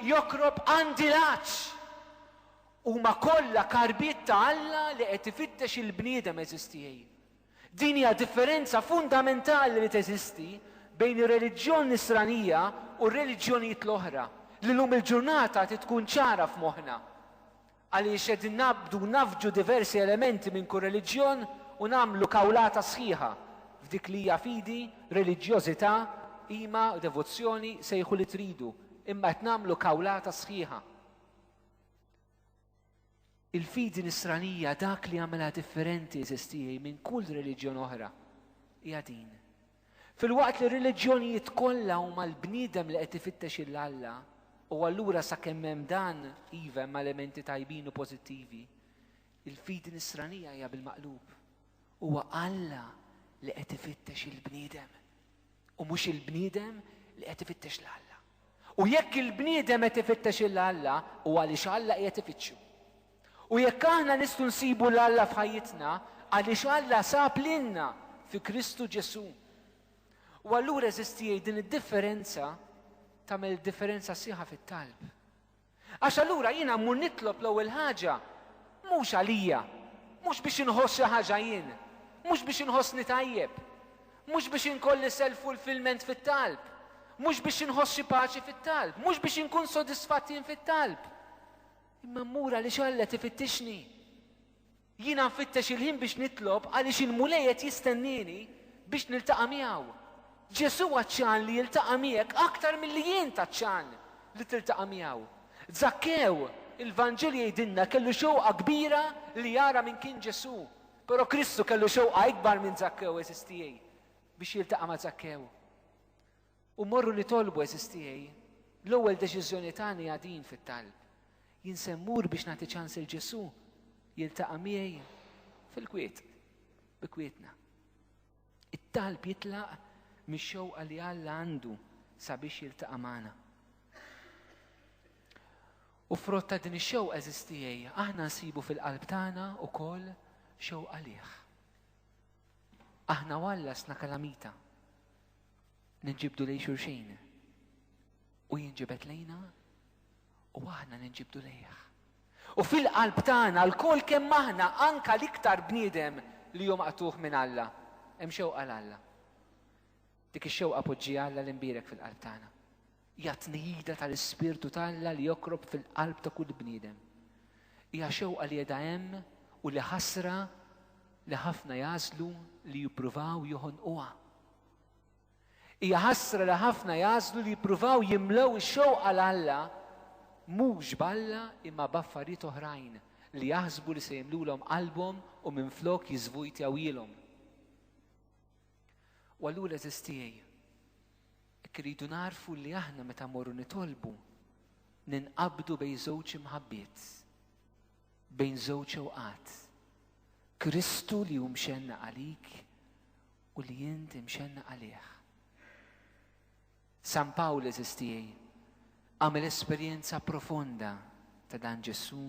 joqrob għandi l-għatx. Huma kollha karbiet ta' Alla li qed ifittex il-bniedem għeżież tiegħi. Din hija differenza fundamentali li teżisti bejn ir-reliġjon Nisranija u r-reliġjonijiet l-oħra li llum il-ġurnata trid tkun ċara f'moħħna. Għaliex qegħdin naqbdu u nafġu diversi elementi minn kull reliġjon u nagħmlu kawlata sħiħa f'dik li hija fidi, reliġjożità, qima, devozzjoni, sejħu li tridu, imma qed nagħmlu kawlata sħiħa. Il-fidi Nisranija dak li jagħmilha differenti għeżież tiegħi minn kull reliġjon oħra hija din. Filwaqt li r-reliġjonijiet kollha huma l-bniedem li qed ifittex 'il Alla, u allura sakemm hemm dan, iva hemm elementi tajbin u pożittivi, il-fidi Nisranija hija bil-maqlub. Huwa Alla li qed ifittex il-bniedem, u mhux il-bniedem li qed ifittex 'l Alla. U jekk il-bniedem qed ifittex 'il Alla, huwa għaliex Alla qiegħed ifittxu. U jekk aħna nistgħu nsibu 'l Alla f'ħajjitna, għaliex Alla sab lilna fi Kristu Ġesù. U allura eżiż tiegħi din id-differenza tagħmel differenza sieħa fit-talb. Għax allura jiena mmur nitlob l-ewwel ħaġa mhux għalija, mhux biex inħoss xi ħaġa jien, mhux biex inħossni tajjeb, mhux biex inkolli self fulfillment fit-talb, mhux biex inħoss xi paċi fit-talb, mhux biex inkun sodisfatt jien fit-talb. Imma mmur għaliex Alla qed ifittixni. Jiena nfittex il-ħin biex nitlob għaliex il-Mulej qed jistennieni biex niltaqa' miegħu. Ġesù għatxan li jiltaqa' miegħek aktar milli int għatxan li tiltaqa' miegħu. Żakkew, il-Vanġelu jgħidilna, kellu xewqa kbira li jara min kien Ġesù. Però Kristu kellu xewqa ikbar minn Żakkew, għeżież tiegħi, biex jiltaqa' ma' Żakkew. U mmorru nitolbu, eżiż tiegħi, l-ewwel deċiżjoni tagħna hija din fit-talb. Jien se mmur biex nagħti ċans lil Ġesù jiltaqa' miegħi fil-kwiet, bi kwietna. It-talb jitlaq mix-xewqa li Alla għandu sabiex jiltaqa' magħna. U frott ta' din ix-xewqa eżiż tiegħi, aħna nsibu fil-qalb tagħna wkoll xewqa liħ. Aħna u Alla sna kalamita. Ninġibdu lejn xulxin u jinġibed lejna u aħna ninġibdu lejh. U fil-qalb tagħna lkoll kemm aħna anka l-iktar bniedem li hu maqtuħ minn Alla, hemm xewqa l Alla. Dik ix-xewqa poġġi Alla li nbierek fil-qalb tagħna. Hija tnejda tal-ispirtu t'Alla li jokrob fil-qalb ta' kull bniedem. Hija xewqa li qiegħda hemm u li ħasra li ħafna jażlu li jippruvaw joħonquha. Hija ħasra li ħafna jagħżlu li jippruvaw jimlew ix-xewqa l-Alla mhux b'Alla imma b'affarijiet oħrajn li jaħsbu li se jimlulhom qalbhom u minflok jiżvujtjawhielhom. U allura eżiż tiegħi, hekk iridu nagħrfu li aħna meta mmorru nitolbu ninqabdu bejn żewġ imħabbiet, bejn żewġ ewqat. Kristu li hu mxenna għalik u li int imxennaq għalih. San Pawl għeżież tiegħi għamel esperjenza profonda ta' dan Ġesù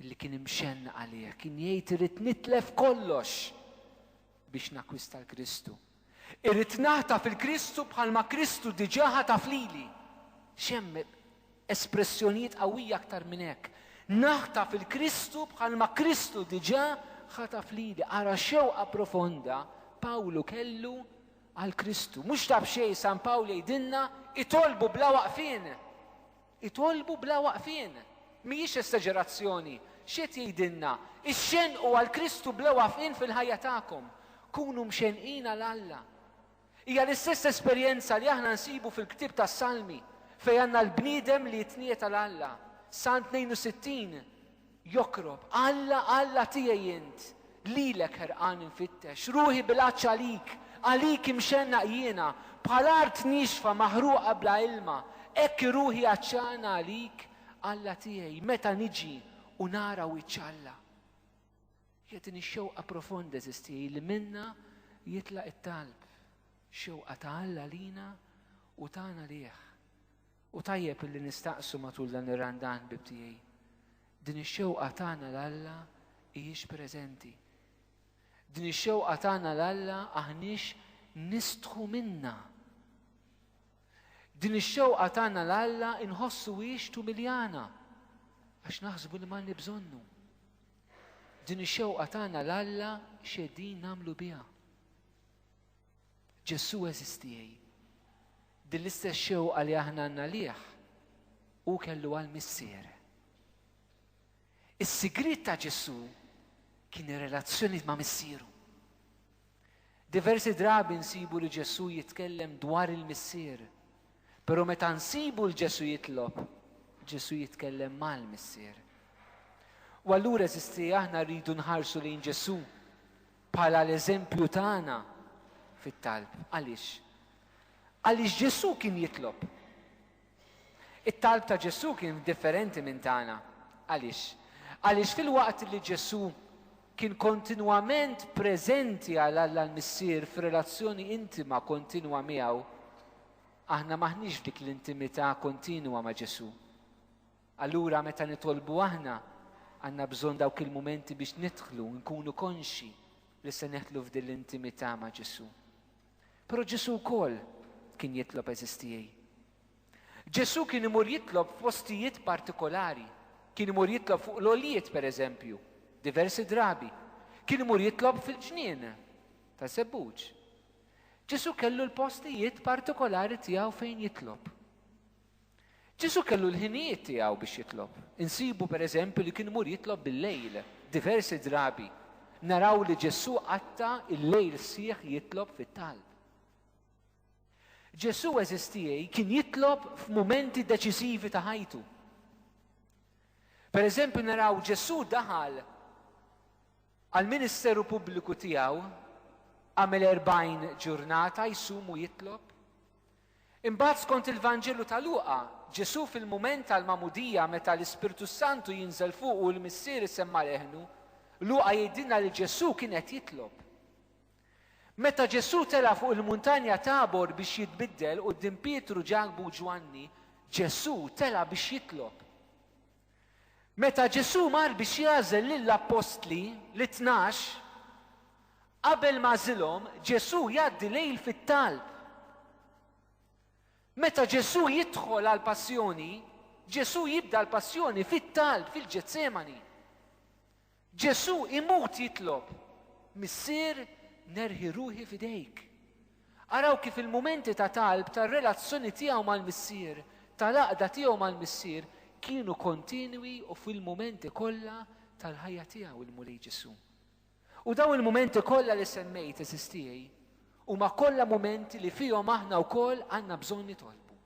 li kien imxenna għalih, kien jgħid irid nitlef kollox biex nakwista l-Kristu. Irrid naħta fil-Kristu bħalma Kristu diġaħa ta' flili. Xem Espressjonijiet qawwija aktar minn hekk, Naħtaf il-Kristu bħalma Kristu diġà ħataf lili. Ara x-xewqa profonda Pawlu kellu għall-Kristu. Mhux ta' b'xejn San Pawl jgħidilna, Itolbu bla waqfien! Itolbu bla waqfien! Mhijiex esteġerazzjoni. X'qed jgħidilna? Ixxenqu għall-Kristu bla waqfien fil-ħajja tagħkom. Kunu mxenqin għal Alla. Hija l-istess esperjenza li aħna nsibu fil-ktieb tas-Salmi fejn għandna l-bniedem li jitniet għal Alla. Salm 62 jokrob, Alla, Alla tiegħi int, lilek ħerqan infittex, ruħi bil-għatx għalik, għalik imxennaq jiena, bħal art niexfa maħruqa bla ilma, hekk ruħi għatxana għalik, Alla tiegħi, meta niġi u nara wiċċ Alla. Hija din ix-xewqa profonda, għeżież tiegħi, li minnha jitlaq it-talb, xewqa ta' Alla għalina u tagħna lih. U tajjeb illi nistaqsu matul dan ir-Randan, ħbieb tiegħi, din ix-xewqa tagħna 'l Alla hijiex preżenti? Din ix-xewqa tagħna 'l Alla aħniex nistħu minnha? Din ix-xewqa tagħna 'l Alla nħossuhiex tumiljana għax naħsbu li m'għandni bżonnu. Din ix-xewqa tagħna 'l Alla x'qegħdin nagħmlu biha. Ġesù eżistiej. Din l-istess xewqa li aħna għandna lih u kellu għal missier. Is-sigriet ta' Ġesù kien ir-relazzjoni ma' missieru. Diversi drabi nsibu li Ġesù jitkellem dwar il-Missier, però meta nsibu l Ġesù jitlob, Ġesù jitkellem mal-Missier. U allura eżisti aħna rridu nħarsu lejn Ġesù bħala l-eżempju tagħna fit-talb. Għaliex? Għaliex Ġesù kien jitlob. It-talb ta' Ġesù kien differenti minn tagħna. Għaliex? Għaliex filwaqt li Ġesù kien kontinwament preżenti għal Alla l-Missier f'relazzjoni intima kontinwa miegħu, aħna m'aħniex f'dik l-intimità kontinwa ma' Ġesù. Allura meta nitolbu aħna, għandna bżonn dawk il-mumenti biex nidħlu, nkunu konxi li se neħlu f'din l-intimità ma' Ġesù. Però Ġesù wkoll kien jitlob eżistijie. Ġesù kien imur jitlob f'postijiet partikolari. Kien imur jitlob fuq l-għoljiet, per eżempju, diversi drabi. Kien imur jitlob fil-ġnien ta' żebbuġ. Ġesù kellu l-postijiet partikolari tiegħu fejn jitlob. Ġesù kellu l-ħinijiet tiegħu biex jitlob. Insibu, per eżempju, li kien imur jitlob bil-lejl, diversi drabi. Naraw li Ġesù qatta' il-lejl sħiħ jitlob fit-talb. Ġesù eżiż tiegħi kien jitlob f'mumenti deċiżivi ta' ħajtu. Per eżempju, naraw Ġesù daħal għal-ministeru pubbliku tiegħu għamel 40 ġurnata jsum u jitlob. Imbagħad skont il-Vanġelu ta' Luqa, Ġesù fil-mument tal-Magħmudija meta l-Ispirtu s-Santu jinżel fuqu u l-Missier isemma' leħnu, Luqa jgħidilna li Ġesù kien qed jitlob. Meta Ġesù tela' fuq il-Muntanja Tabor biex jitbiddel quddiem Pietru, Ġakbu u Ġwanni, Ġesù tela' biex jitlob. Meta Ġesù mar biex jagħżel lill-appostli, lit-tnax, qabel m'għażilhom, Ġesù jgħaddi lejl fit-talb. Meta Ġesù jidħol għall-passjoni, Ġesù jibda l-passjoni fit-talb fil-Ġetsemani. Ġesù imut jitlob, Missier, nerħi ruħi f'idejk. Araw kif il-mumenti ta' talb tar-relazzjoni tiegħu mal-Missier, tal-għaqda tiegħu mal-Missier, kienu kontinwi u fil-mumenti kollha tal-ħajja tiegħu l-Mulej Ġesù. U dawn il-mumenti kollha li semmejt, għeżież tiegħi, huma kollha mumenti li fihom aħna wkoll għandna bżonn nitolbu.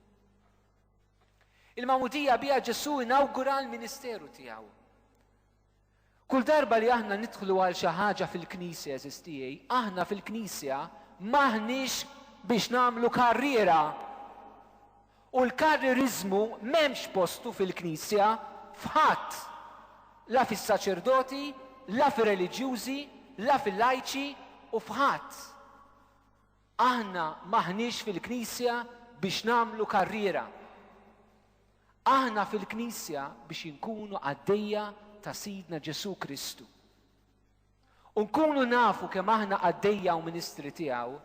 Il-magħmudija biha Ġesù inawgura l-ministeru tiegħu. Kull darba li aħna nidħlu għal xi ħaġa fil-Knisja, eżiż tiegħi, aħna fil-Knisja m'aħniex biex nagħmlu karriera. U l-karrieriżmu m'hemmx postu fil-Knisja f'ħadd. La fis-saċerdoti, la fir-reliġjużi, la fil-lajċi u f'ħadd. Aħna m'aħniex fil-Knisja biex nagħmlu karriera. Aħna fil-Knisja biex inkunu qaddejja ta' Sidna Ġesù Kristu. U nkunu nafu kemm aħna qaddejja u ministri tiegħu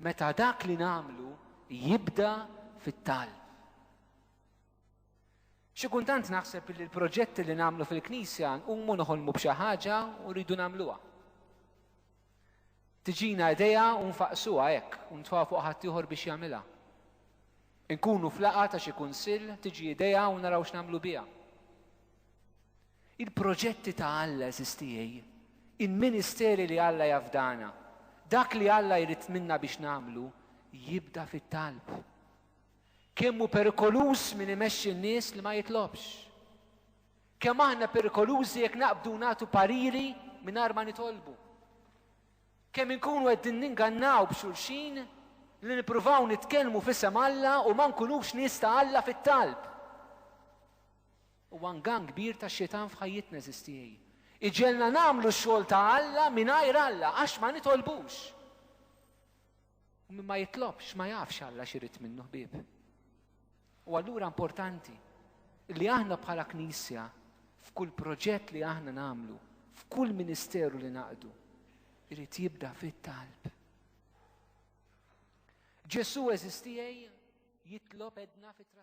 meta dak li nagħmlu jibda fit-talb. Xi kuntant naħseb li l-proġetti li nagħmlu fil-Knisja nqumu noħolmu b'xi ħaġa u rridu nagħmluha. Tiġina idea u nfaqqsuha hekk u ntfgħu fuq ħaddieħor biex jagħmilha. Inkunu flaqa ta' xi kunsill, tiġi idea u naraw x'nagħmlu biha. Il-proġetti ta' Alla eżistijej, il-ministeri li Alla jafdana, dak li Alla jrid minna biex nagħmlu, jibda fit-talb. Kemm hu perikoluż min imexxi n-nies li ma jitlobx. Kemm aħna perikolużi jekk naqbdu nagħtu pariri mingħajr ma nitolbu. Kemm inkunu qegħdin ningannaw b'xulxin li nippruvaw nitkellmu f'isem Alla u ma nkunux nies ta' Alla fit-talb. Huwa ngann kbir ta' xitan f'ħajjitna eżistijej. Iġelna nagħmlu x-xogħol ta' Alla mingħajr Alla għax ma nitolbux. U min ma jitlobx ma jafx Alla x'irid minnu ħbieb. U allura importanti li aħna bħala Knisja f'kull proġett li aħna nagħmlu, f'kull ministeru li naqdu, irid jibda fit-talb. Ġesu eżistijaj jitlob edna fit